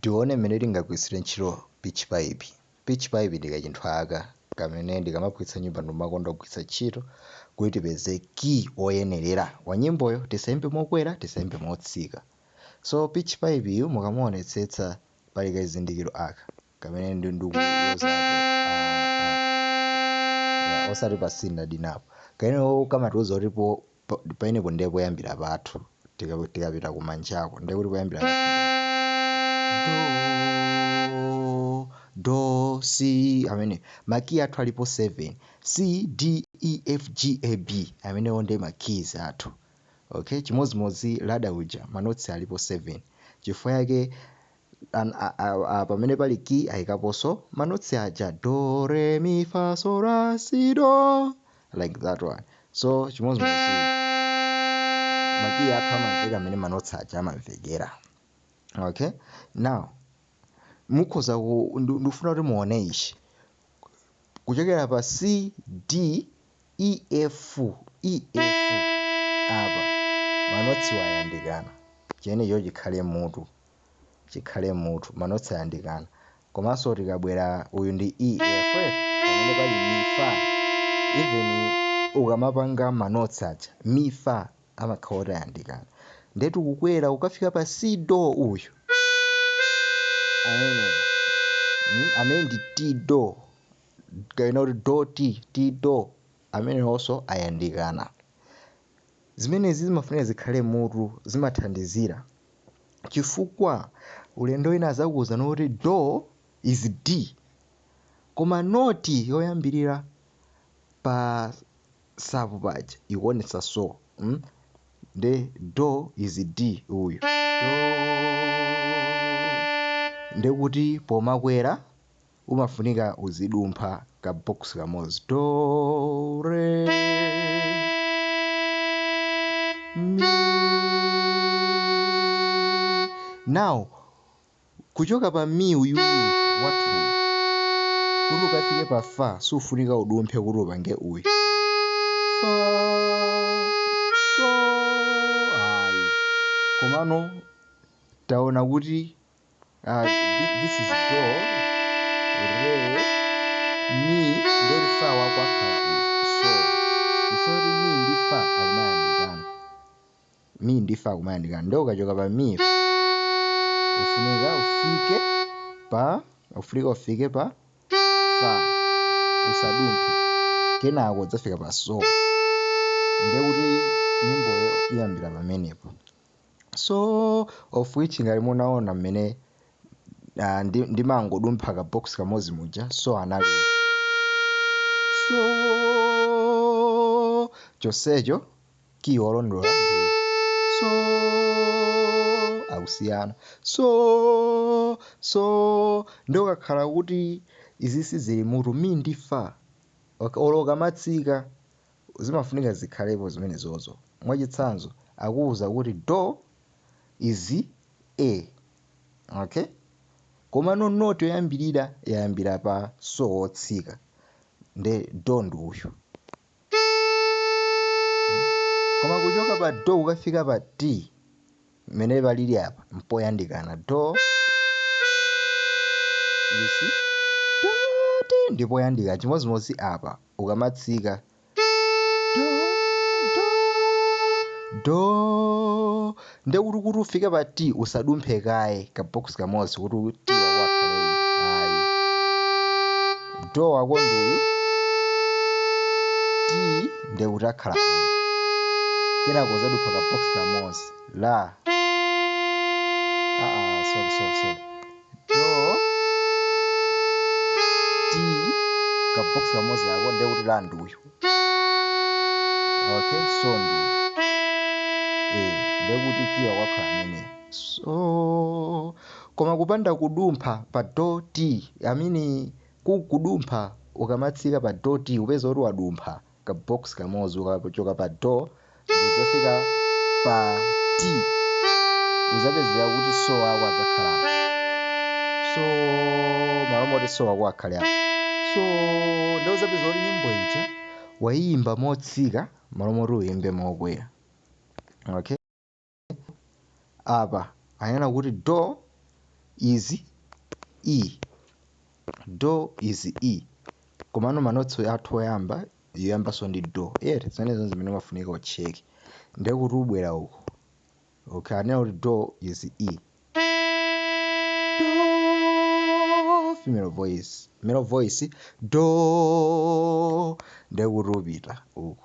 Tione mmene tingagwiritsire ntchito pitch pipe. Pitch pipe ndi kachinthu aka kamene tikamaphunzitsa nyimbo timakonda kugwiritsa ntchito kuti tipeze key oyenerera wa nyimboyo. Tisaimbe mokwera, tisaimbe motsika. So pitch pipe yu mukamuonetsetsa pali kachizindikiro aka kamene ndi ndikulozapo ah, ah, yeah, osati pa C ndi D napo. Kameneko kamatiuza kuti po po- paenepo ndiye poyambira pathu Tika- tikapita kumanjako ndiye kuti poyambira pathu do do c amene makiyi athu alipo 7 c d e f g a b amenewo ndiye makiyi athu okay chimodzimodzi lada uja manotsi alipo 7 chifukwa yake an a, a, a, pamene pali ki ayikaponso manotsi aja do re mi fa so la ti do like that one so chimodzimodzi makiyi athu amamveka mmene manotsi aja amamvekera okay now mukhoza ku- ndu- ndikufuna kuti muone ichi kuchokera pa c d E F E F apa manotsi ayandikana chimenecho chikhale mmutu chikhale mmutu manotsi ayandikana komanso tikabwera uyu ndi E F pamene pali mi fa even ukamapanga manotsi aja mi fa amakhala otayandikana nde tikukwera kukafika pa C do uyu amene mm, amene ndi ti do kapena kuti do ti ti do amenewonso ayandikana zimenezi zimafunika zikhale mutu zimathandizira chifukwa ulendo wina azakuwuzani kuti do is d koma noti yoyambirira pa savu paja ikuonetsa so mm? nde do is d uyu do ndekuti pomakwera umafunika uzidumpha ka box kamodzi do re mi now kuchoka pa mi uyuyu wathuyu kuti ukafike pa fa sufunika udumphe kuti upange uyu fa so ayi komano taona kuti uh, this is do re mi ndiye fa wakwakhala so ifoti mi ndi fa akumayandikana mi ndi fa akumayandikana nde ukachoka pa mi ufunika ufike pa ufunika ufike pa fa usadumphe kenako udzafika pa so ndekuti nyimboyo iyambira pamenepo so of which ngati munaona mmene uh, ndi- ndimangodumpha ka box kamodzi muja so anali so chonsecho key olondola ndi so akusiyana so so nde ukakhala kuti izi sizili m'mutu mi ndi fa Ok, olo ukamatsika zimafunika zikhalepo zimenezozo. Mwachitsanzo, akuuza kuti do is A. Okay? Komano note yoyambirira yayambira pa so wotsika. Nde do ndi uyu. Koma kuchoka pa do kukafika pa ti mmene palili apa mpoyandikana do you see do ti ndi poyandikana chimodzimodzi apa ukamatsika do do do nde kuti kuti ufike pa ti usadumphe kaye ka box kamodzi kuti ti wako akhale uyu ayi do wako ndi uyu ti nde kuti akhala uyu kenako uzadumpha ka box kamodzi la ah, ah, sorry, sorry, sorry. do ti ka box kamodzi ako nde kuti la ndi uyu okay so ndi uyu eh nde kuti key wako akhala ameneyo so koma kupanda kudumpha pa do ti I mean Ku kudumpha, Ukamatsika pa do ti upeza kuti wadumpha ka box kamodzi ukachoka pa do ndikudzafika pa ti udzapezeka kuti so wako adzakhala apa. So malo moti so wako akhale apa. So nde udzapeza kuti nyimbo ija wayiyimba motsika malo moti uyimbe mokwera. Okay? apa anena kuti do is e do is e komano manotsi athu oyamba yoyambanso ndi do eh zimenezo zimene umafunika ucheke ndiye kuti ubwera uko okay anena kuti do is e do female voice male voice do ndiye kuti upita uko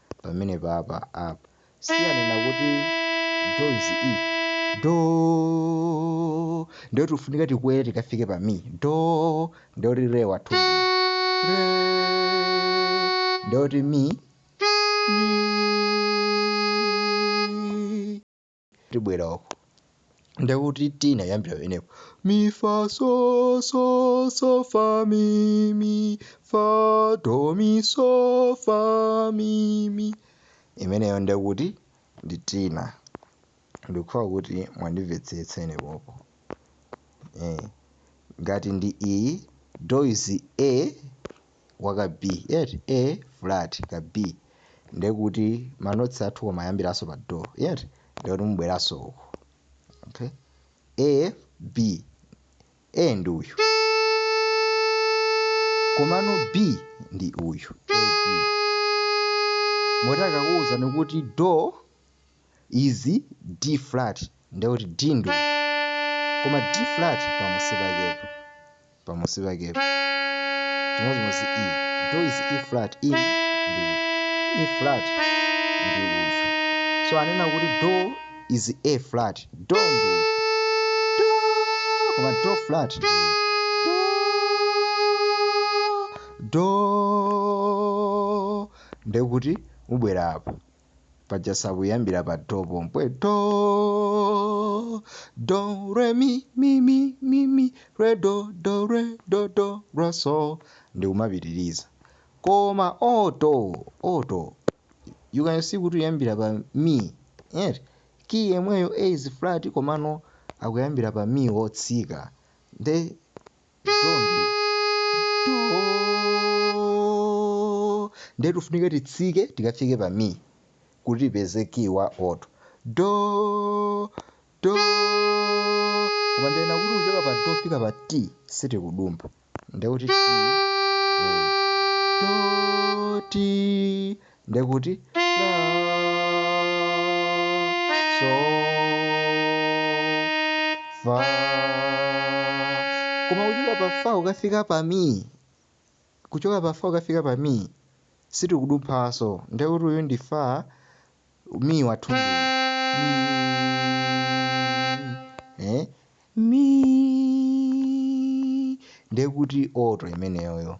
pamene papa apa siyanena kuti do is e do ndio tufunika tikwere tikafike pa mi do ndio ti re wathu re ndio ti mi mi tibwera uku ndekuti tenor ayambira pamenepo mi fa so so so fa mi mi fa do mi so fa mi mi imeneyo ndekuti ndi tenor ndikukhulupira kuti mwandimvetsetsa ine pompo eh. ngati ndi iyi do is a waka B eti A flat ka B ndekuti ma notes athu kumayambiranso pa do eti ndekuti mubweranso uko okay A B A ndi uyu komano B ndi uyu A B moti akakuwuzani kuti do is D flat ndiye kuti D ndi koma D flat pamunsi pakepo pamunsi pakepo chimodzimodzi E do is E flat E ndi E flat ndi uyu so anena kuti do is A flat do ndi uyu do koma do flat ndi uyu do ndekuti mubwera apa paja sakuyambira pa do pompwe do do re mi mi mi mi mi re do do re do do ra so ndikumapitiriza koma oto oto you can see kuti uyambira pa mi eti ki yemweyo a is flat komano akuyambira pa mi wotsika nde Nde do. Ndiye tifunika titsike tikafike pa mi kuti tipeze key wa alto. Do. Do. Koma ndinena kuti kuchoka pa do kufika pa ti sitikudumpha. Ndiye kuti ti. Do ti. ndiye kuti la so fa koma kuchoka pa fa kukafika pa mi kuchoka pa fa kukafika pa mi sitikudumphanso ndiye kuti uyu ndi fa mi wathu ndi eh? mi ndiye kuti alto imeneyoyo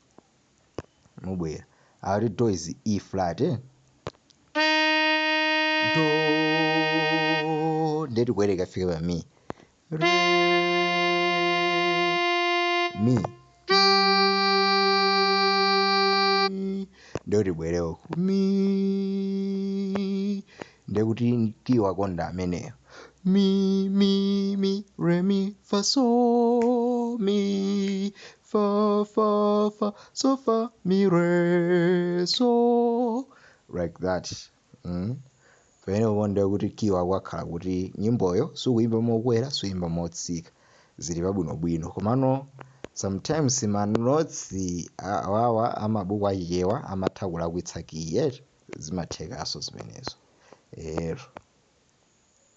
mubwera uko ati do is e flat eh? do ndiye tikwere tikafike pa mi re mi ndiye kuti tibwere uku mi ndiye kuti key wa alto ndi ameneyo mi mi mi re mi fa so mi fa fa fa so fa mi re so like that mm? pamenepo ndiye kuti kiyi wakhala kuti nyimboyo sukuyimba mokwera sukuyimba motsika zili pabwinobwino komano sometimes manotsi awawa amabuku achichewa amatha kulakwitsa kiyi eti zimathekanso zimenezo ero